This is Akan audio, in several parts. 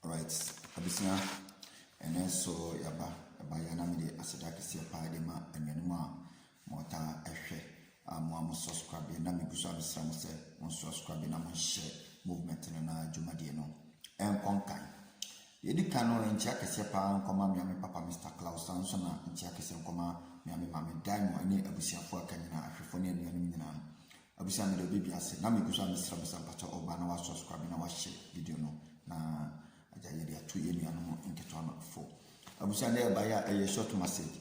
Alright, abusua, ɛnɛ nso yɛaba ɛba yɛ na mede aseda kɛseɛ paa de ma anuanom a motaa ɛhwɛ a mo a mo subscribe na megu so abɛsra mo sɛ mo subscribe na mo nhyɛ movement no na dwumadie no ɛnkɔ nkan yɛdi kan no nkyia kɛseɛ paa nkɔma mea me papa Mr. Klaus saa nso na nkyia kɛseɛ nkɔma mea me maame Daimo ne abusuafoɔ aka nyinaa ahwɛfoɔ ne anuanom nyinaa Obisa me dɛ obi bi ase na megu so a mesrɛ me sɛ mpakyɛw ɔba na wa subscribe na wa share video no na agya yɛde ato yɛ nuanom nketewa no fo. Abusua dɛ ɛba yɛ a ɛyɛ short message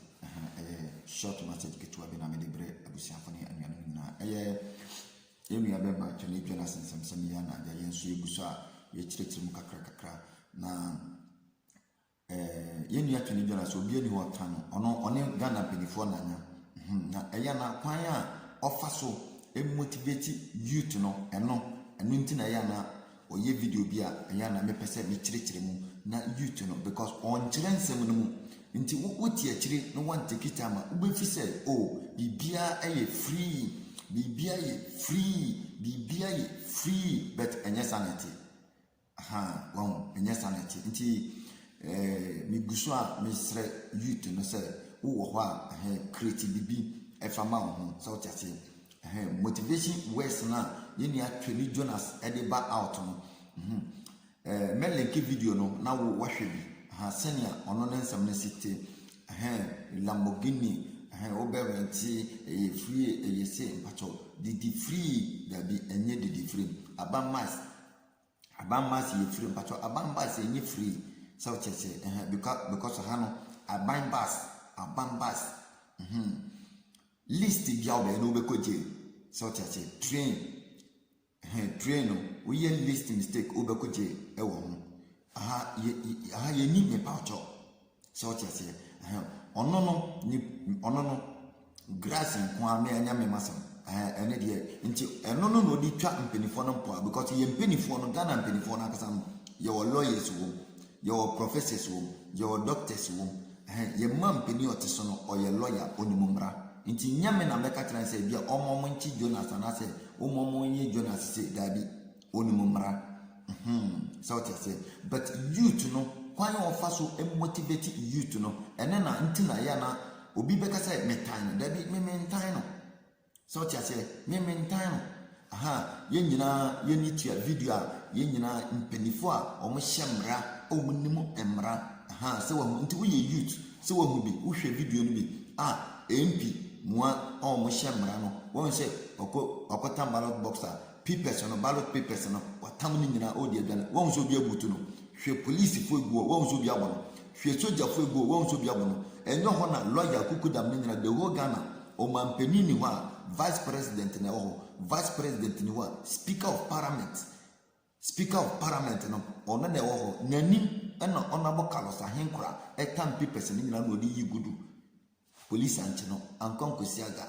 ɛyɛ short message ketewa bi na mede brɛ abusuafo ne anuanom nyinaa ɛyɛ yɛn nua bɛma Twene Dwen asensɛmsɛm yɛ na agya yɛn nso yɛgu so a yɛkyerɛkyerɛ mu kakra kakra na Ɛɛ yɛn nua Twene Jonah sɛ obiara ni hɔ ɔka no, ɔno ɔne Ghana mpaninfoɔ na anya. Hum na ɛyɛ a na kwan a ɔfa so motivate youth no ɛno ɛno nti na ɛyɛ a na ɔyɛ video bi a ɛyɛ a na mepɛ sɛ mekyerɛkyerɛ mu na youth no because ɔnkyerɛ nsɛm no mu nti wo wote akyire na wanteki time a wobɛfi sɛ o oh, biribiara yɛ free biribiara yɛ free biribiara yɛ free but ɛnyɛ saa na ɛteɛ. Ahaa, wahu, ɛnyɛ saa na ɛte. Nti eh, megu so a mesrɛ youth no sɛ wowɔ hɔ a eh, create biribi ɛfa ma wo ho sɛ wote aseɛ. Eh, motivation words no a yɛn nua Twani Jonas ɛde ba out no, mhm, eh, mɛ link video no na wo wahwɛ bi, aha, sɛnea ɔno ne nsɛm no si te, eh, Lamborghini, eh, wobɛ rente, ɛyɛ free, ɛyɛ se, mpakyɛw, didi free, dabi, ɛnyɛ didi free, aba mice, Aban bus yɛ free mpatsɔ aban bus yɛ nye free sɛ wo kyerɛ sɛ ɛhɛn bikɔ because ha no aban bus aban bus hmm list bia wo bɛyɛ no wo bɛkɔ jail sɛ wo kyerɛ sɛ train ɛhɛn train no wo yɛ list mistake wo bɛkɔ jail ɛwɔ ho aha yɛ aha yɛ ni me patsɔ. So wote aseɛ? Ɛhɛn. Ɔno no, ne ɔno no, grass nko ara na ɛnyɛ mema sɛm. Ɛhɛn, ɛno deɛ, nti ɛno no na ɔde twa mpanimfoɔ no mpoa because yɛn mpanimfoɔ no, Ghana mpanimfoɔ no ankasa no, yɛwɔ lawyers wɔ mu, yɛwɔ professors wɔ mu, yɛwɔ doctors wɔ mu. Ɛhɛn, yɛn ma mpanin ɔte so no, ɔyɛ lawyer, ɔnim mmara. Nti nyɛ me na mɛka kyerɛ no sɛ ebia ɔmma ɔmo nkye Jonas anaasɛ ɔmma ɔmo nyɛ Jonas se, daabi. Ɔnim mmara. Mhmm sɛ wote aseɛ. But youth no, kwan a wɔfa so motivate youth no, ɛno na nti na ɛyɛ a na obi bɛka sɛ metan no. Dabi, me mentan no. Sɛ wote aseɛ, me mentan no. Aha, yɛn nyinaa yɛni tua video a, yɛn nyinaa mpaninfoɔ a wɔhyɛ mmara, wɔnim mmara. Aha, sɛ wahu, nti woyɛ youth, sɛ wahu bi, wohwɛ video no bi a, MP mua a wɔhyɛ mmara no, wahu sɛ ɔkɔ ɔkɔtan ballot box a, Pipɛs no ballot papers no watam no nyinaa ɔɔdi aduane wahu sɛ obi abutu no hwɛ polisifo egu hɔ wahu sɛ obi abo no hwɛ sogyafo egu hɔ wahu sɛ obi abo no ɛnyɛ hɔ na lɔya akukudam no nyinaa the whole Ghana ɔmanpanin ni hɔ a vice president na ɛwɔ hɔ vice president ni hɔ a speaker of parliament speaker of parliament no ɔno na ɛwɔ hɔ n'anim ɛna ɔnabo Carlos Ahenkora ɛtam pipɛs no nyinaa na ɔde yi gudu Police ankye no ankɔ Ankwasiaga.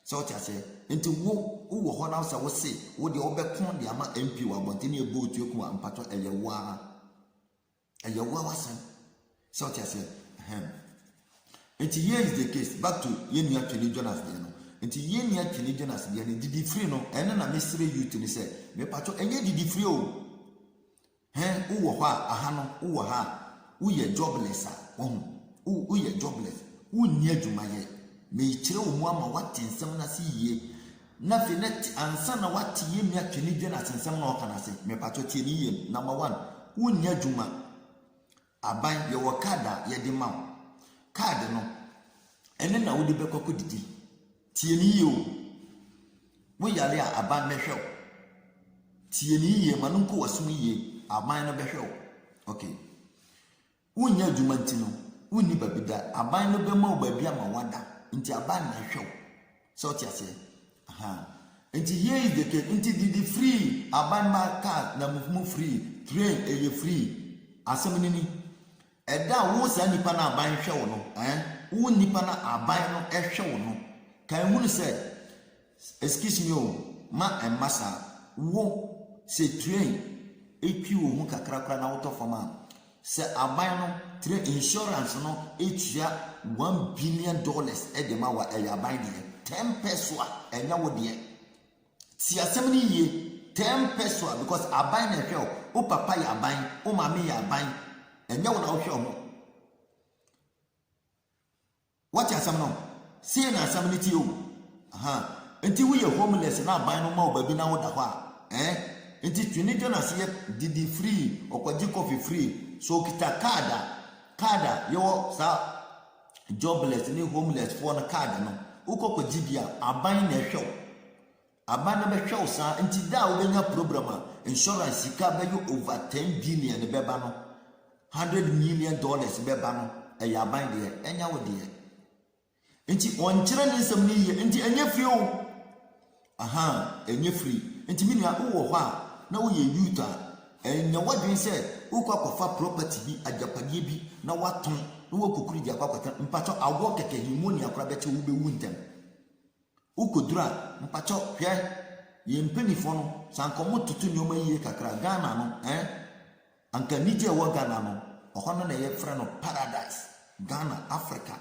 Sɛ wote aseɛ? Nti wo wowɔ hɔ na sɛ wo se wo deɛ wo bɛko de ama MP wɔ abɔnten ne ɛbɔ otuo ko a mpatwɔ ɛyɛ wo ara. Ɛyɛ wo ara w'asɛm. Sɛ wote aseɛ? Ɛhɛm. Nti here is the case back to yɛn nua Twene Jonas deɛ no. Nti yɛn nua Twene Jonas deɛ no didifiri no ɛno na mesere youth no sɛ mepatwɔ ɛnyɛ didifiri o. He wo wɔ hɔ a aha no wo wɔ ha a wo yɛ jobless a wahu wo wo yɛ jobless wo nni adwuma yɛ meekyerɛ wo mu ama wate nsɛm no ase yie na afei na te ansa na wate yɛnni atwene dwen asensɛm na ɔka no ase mepakyɛ tie ne yie number one wo nni adwuma Aban, yɛwɔ kaad a yɛde ma wo. Kaad no, ɛno na wode bɛkɔ akɔdidi. Tie no yie o. Woyare a, aban bɛhwɛ wo. Tie no yie, ma no nkɔ w'asom yie, aban no bɛhwɛ wo. Ok. Wonyɛ adwuma nti no, wonni baabi da. Aban no bɛma wo baabi ama woada. Nti aban na ɛhwɛ wo. Sɛ ɔte aseɛ? Ahaa. Nti here is the case. Nti didi free, aban ma car na mu mu free, train ɛyɛ free. Asɛm no ni. Ɛda a wo saa nipa no aban hwɛ wo no, eh, wo nipa no aban no ɛhwɛ wo no, ka ehunu sɛ, excuse me o, ma ɛmma saa. Wo, sɛ train etwi wo ho kakra koraa na wotɔ fam a, Sɛ aban no trɛ insurance no tua one billion dollars de ma wo a, ɛyɛ aban deɛ. Ten pɛso a, ɛnyɛ wo deɛ. Ti asɛm no yie. Ten pɛso a, because aban na ɛhwɛ wo. Wo papa yɛ aban, wo maame yɛ aban. Ɛnyɛ wo na wohwɛ ho. Woate asɛm no? Sei na asɛm no teɛ o. Ahaa. Enti woyɛ homeless na aban no ma wo baabi na woda hɔ a, ɛɛ? Enti twe ne dwan ase yɛ didi free, ɔkɔgye coffee free. So okita card a, card a yɛwɔ saa jobless ne homeless foɔ no card no, wokɔ kɔgye bi a, aban na ɛhwɛ wo. Aban no bɛhwɛ wo saa nti da a wobɛnya program a insurance sika bɛyɛ over ten billion bɛba no, hundred million dollars bɛba no ɛyɛ aban deɛ ɛnyɛ wo deɛ. Nti ɔnkyerɛ ne nsɛm no yie nti ɛnyɛ free o. Ahaa ɛnyɛ free nti me nua wowɔ hɔ a na woyɛ youth a ɛnyɛ w'adwene sɛ wokɔ akɔfa property bi agyapadeɛ bi na woatɔn na woakɔkuru de akɔ akɔtena mpakyɛw awɔ kɛkɛ pneumonia koraa bɛkye wo wobɛwu ntɛm. Wo kɔduru a mpakyɛw hwɛ yɛn mpaninfoɔ no sɛ anka ɔmo toto nnoɔma yie kakra Ghana no eh anka anigye a ɛwɔ Ghana no ɔhɔ no na yɛ frɛ no paradise Ghana Africa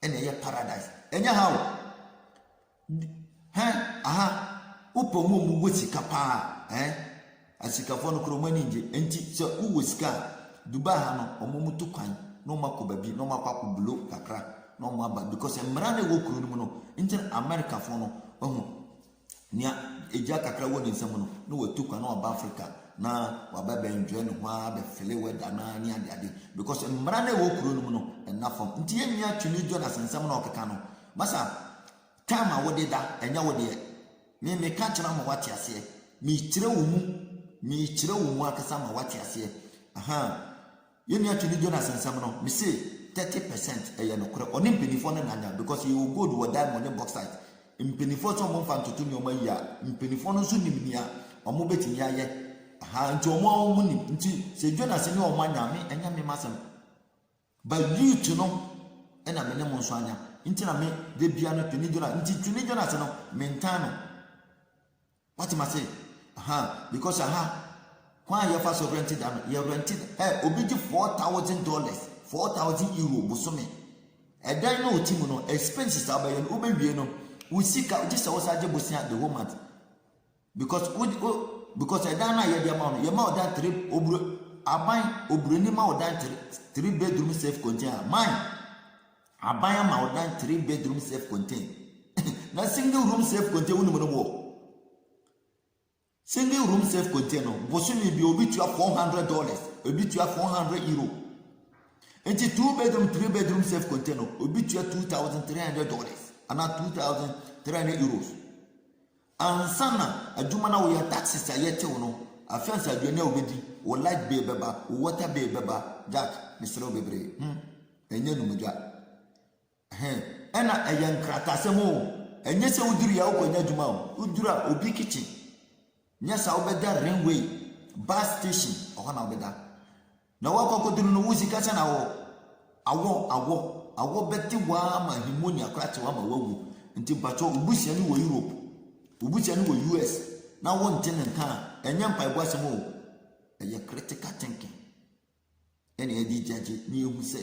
ɛna ɛyɛ paradise ɛnyɛ ha o hɛ aha wo pɛ ɔmo a ɔmo wɔ sika paa eh. Asikafɔ no kura ɔmo ani ngye nti sɛ wo wɔ sika a Dubai ha no ɔmo ɔmo tu kwan na ɔmo akɔ baabi na ɔmo akɔ akɔ blow kakra na ɔmo aba because mmara no ɛwɔ kuro no mu no nti na America fɔ no wahu nea egya kakra wɔ ne nsam no na watu kwan na waba Africa na waba bɛ enjoy ne ho a bɛ fele weather na ne ade ade because mmara no ɛwɔ kuro no mu no ɛna fam nti yɛn nua Twene Jonas nsɛm na ɔkeka no masa time a wode da ɛnyɛ wo deɛ Me, meka kyerɛ ama woate aseɛ, mekyerɛ wo mu, mekyerɛ wo mu ankasa ama woate aseɛ, ahaa. Yɛn nua Twene Jonas nsɛm no, me se thirty percent ɛyɛ nokorɛ, ɔne mpaninfoɔ no na anya, because yɛwɔ gold wɔ diamond ne bauxite, mpaninfoɔ sɛ wɔn mfa ntoto nneɛma yie a, mpaninfoɔ no nso nim nea wɔn bɛtumi ayɛ, ahaa, nti wɔn ara wɔn nim, nti sɛ Jonas ne wɔn anya a, me, ɛnyɛ me m'asɛm. Ba youth no na me ne mo nso anya nti na me da bia no twene Jonas nti twene Jonas no me ntan no wate ma se aha because aha kwan a yɛfa so rent da no yɛ rent ɛ obi gye four thousand dollars four thousand euro bosome ɛdan no ɔte mu no expenses a ɔbɛyɛ no wobɛwie no wo sika gye sɛ wo sa gye bosia the whole month Because wo de o because ɛdan no a yɛde ama wo no yɛma ɔdan three oburo aban oburoni ma ɔdan three three bedroom self contain aban aban ama ɔdan three bedroom self contain na single room self contain wonim no wɔ single room self contain no bosome bi obi tua four hundred dollars obi tua four hundred euro nti two bedroom three bedroom self contain no obi tua two thousand three hundred dollars ana two thousand three hundred euros. Ansa na adwuma no a woyɛ, taxes a yɛtew no, afe ansa aduane a wubedi, wo light bill bɛba, wo water bill bɛba, Jack, mesrɛ wo bebree, hmm, ɛnyɛ anumdwa. Ɛhɛ, ɛna ɛyɛ nkrataasɛm o, ɛnyɛ sɛ wudurui a wokɔnya adwuma o, wuduru a obi kitchen, nyɛ saa wobɛda rainway, bus station, ɛhɔ na wobɛda. Na wɔ akɔkɔduru no wo sika sɛ na wɔ awɔ awɔ awɔ bɛte waa ma himonia kora te waa ma wawu nti mpakyɛ wo busua ni wɔ Europe wo busua ni wɔ US na wo nte ne nka a ɛnyɛ mpaebɔ asɛm o ɛyɛ critical thinking ɛne ɛde gyagye ne ehu sɛ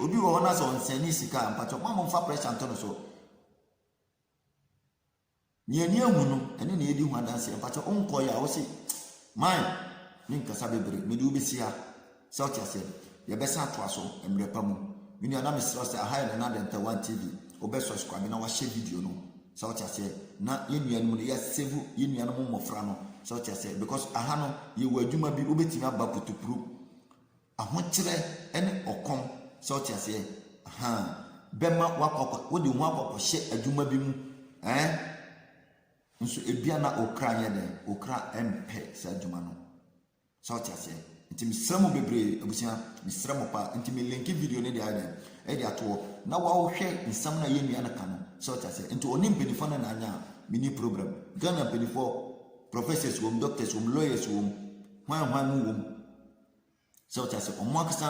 obi wɔ hɔ na sɛ ɔnsɛn ne sika a mpakyɛ mo a mo nfa pressure nto no so Nea ani ahu no ɛne nea edi ho adanseɛ mpakyɛw wonkɔeɛ a wose man me nkasa bebree mede wo besi ha sɛ wote aseɛ yɛbɛsan atoa so mmerɛ pa mu me nua na mesrɛ wo sɛ aha yɛ Nana Dɛntɛ one TV wobɛ subscribe na wahyɛ video no sɛ wote aseɛ na yɛn nuanom no yɛ save yɛn nuanom mmɔfra no sɛ wote aseɛ because aha no yɛwɔ adwuma bi wobɛtumi aba putupurup Ahokyerɛ ne ɔkɔm, sɛ wote aseɛ, ahaa, bɛma woakɔ akɔ, wode wo ho akɔ akɔhyɛ adwuma bi mu, ɛɛ, nso ebia na wo kra nyɛ dɛn, wo kra mpɛ saa adwuma no, sɛ wote aseɛ. Nti mesrɛ mo bebree, abusua, mesrɛ mo paa, nti me linki video no de ayɛ dɛn, ɛde ato hɔ, na woahwɛ nsɛm no a yɛn nua no ka no, sɛ wote aseɛ. Nti ɔne mpanimfoɔ no na anyɛ a, menni problem. Ghana mpanimfoɔ, professors wom, doctors wom, lawyers wom, hwan hwan mu wom, So wote ase? Wɔn ankasa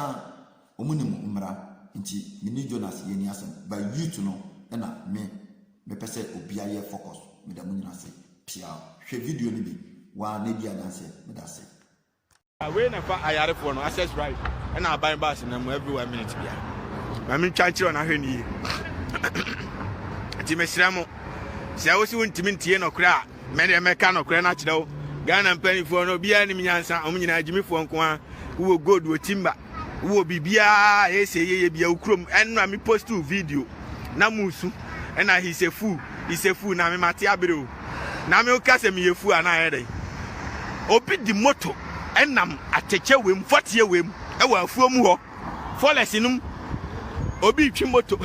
wɔnim mmara. Nti me ne Jonas yɛnni asɛm. But youth no na me mepɛ sɛ obiara yɛ focus. Meda mo nyinaa ase piaa. Hwɛ video no bi waa na edi adanseɛ. Meda ase. Wei na ɛfa ayarefoɔ no access right ɛna aban bus na mu every one minute bia ma mentwa nkyerɛ no ahwɛ no yie nti mesrɛ mo sɛ wosi wontumi ntie nɔkorɛ a Me deɛ mɛka nɔkorɛ no akyerɛ wo Ghana mpanimfoɔ no obiara nim nyansa wɔn nyinaa gyimifoɔ nko ara wowɔ gold wɔ timba wowɔ biribiara ɛyɛ sɛ yɛyɛ bia wo kurom ɛno a me post wo video na musu ɛna he's a fool he's a fool na me mate abere o na me woka sɛ meyɛ fool anaa ɛyɛ dɛn obi di moto ɛnam atɛkyɛ wem fɔteɛ wem ɛwɔ afuo mu hɔ Forex no mu, obi retwi moto,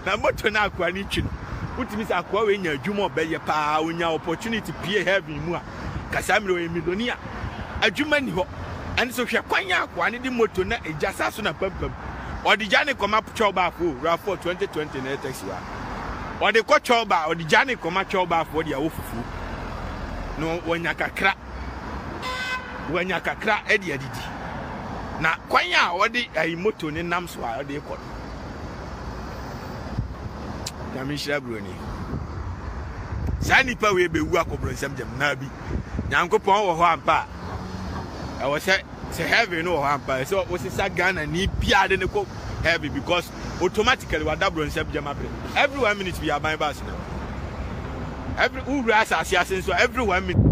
na moto no akoa no retwi no, wotumi sɛ akoa wei nya adwuma ɔbɛyɛ paa, onya opportunity pie heaven mu a, kasaa mmerɛ ɔyɛ milonia, adwuma ni hɔ. Ɛno so hwɛ kwan a akoa no de moto na egya saa so na pampam. Ɔde gya ne kɔma twɛw baafo o, rafoɔ 2020 na ɛtɛsi wa. Ɔde kɔ twɛw baa, ɔde gya ne kɔma twɛw baafo ɔde awo fufuo. No wɔnya kakra. wanya kakra de adidi. Na kwan a ɔde ayi moto ne nam so a ɔde kɔ no, nyame nhyira buroni. Saa nipa wei bɛwu akɔboro nsɛm gyam naa bi. Nyankopɔn wɔ hɔ ampa a, ɛwɔ sɛ sɛ heaven no wɔ hɔ ampa a, ɛsɛ ɔsesa Ghana ni biara de ne kɔ heaven because automatically wadaboro nsɛm gyama bere every one minute bi aban bus nam every wura asase ase nso every one minute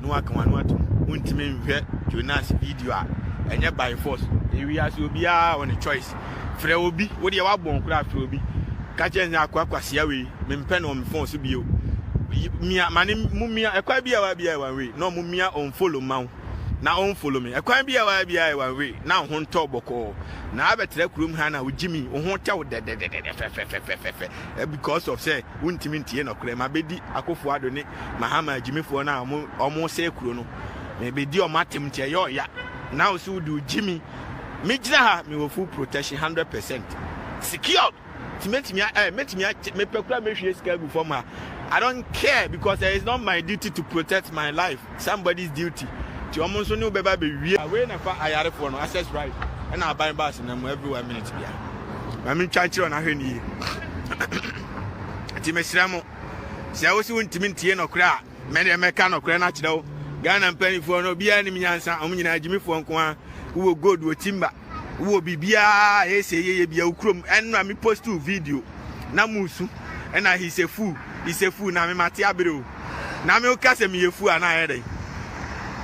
no waka wano ato mu ntumi nhwɛ Jonas video a ɛnyɛ by force ewi ase obiara on a choice frɛ obi wo deɛ wabɔn koraa frɛ obi ka kyerɛ nsɛ akɔ akwasia wei mempɛ no ɔmo fon so bio mia mane mo mia ɛkwa bi a wa bi a one way na ɔmo mia ɔmo follow ma wo na ɔn follow me ɛkwan bi a waa bi a one way na ɔho ntɔ bɔkɔɔ na abɛtra kurom ha na ɔgye mi ɔho tɛw dɛdɛdɛdɛ fɛfɛfɛfɛfɛ because of sɛ wontumi ntie nɔkorɛ ma bɛdi akofo ado ne mahama agyimifoɔ no a ɔmo sɛ kuro no na ɛbɛdi ɔmo atem nti ɛyɛ ɔya na wo so wode ɔgye mi megyina ha mewɔ full protection 100 percent secured Ti metumi a eh metumi a mepɛ kura mehwie sika gu fam a I don't care because eh, it's not my duty to protect my life somebody's duty ti wɔn nso ne wo bɛba bɛwie. Wei na fa ayarefoɔ no access right ɛna aban baasi na mu every one minute bia maame ntwa nkyerɛ wɔn ahwɛ no yie ti mesrɛ mo sɛ wosi wo ntumi ntie nɔkorɛ a mɛdeɛ mɛka nɔkorɛ no akyerɛ wo Ghana mpanimfoɔ no obiara nim nyansa wɔn nyinaa gyimifoɔ nko a wowɔ gold wɔ timba wowɔ biribiara a ɛyɛ sɛ yɛyɛ bia wo kurom ɛnora me post wo video na musu ɛna he's a fool he's a fool na me mate abere o na me woka sɛ meyɛ fool anaa ɛyɛ dɛn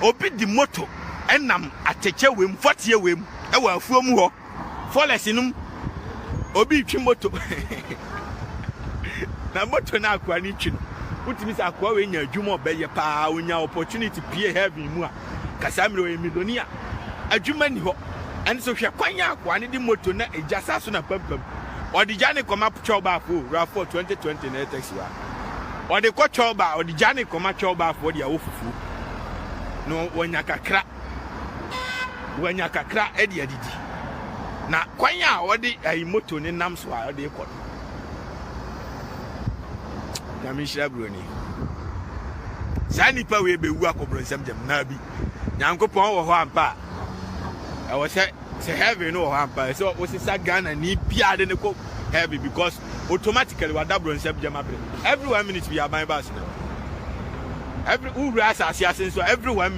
obi di moto ɛnam atɛkyɛ wem fɔteɛ wem ɛwɔ afuo mu hɔ fɔlɛs nom obi twi moto na moto no akoa no twi no wotumi sɛ akoa wei nya adwuma ɔbɛyɛ paa onya opportunity pie heaven mu a Casamiro yɛ milionia, adwuma nni hɔ, ɛno so hwɛ kwan a akoa no de moto na egya sa so na pampam ɔde gya no kɔma twɛwbaafo o, Rafford, twenty twenty na ɛyɛ taxi wa ɔde kɔ twɛwba a ɔde gya no kɔma twɛwbaafo de awɔ fufuo no wanya kakra wanya kakra de adidi na kwan a ɔde ayi moto no nam so a ɔde kɔ no nyame nhyira buroni saa nnipa wei bɛwu akɔ borɔnsam gyam naa bi nyankopɔn wɔ hɔ ampa a ɛwɔ sɛ sɛ heaven no wɔ hɔ ampa sɛ wosesa ghana ni biaa de ne kɔ heaven because automatically wada borɔnsam gyam abrɛ every one minute bi aban ba so every wowura asase ase nso every one minute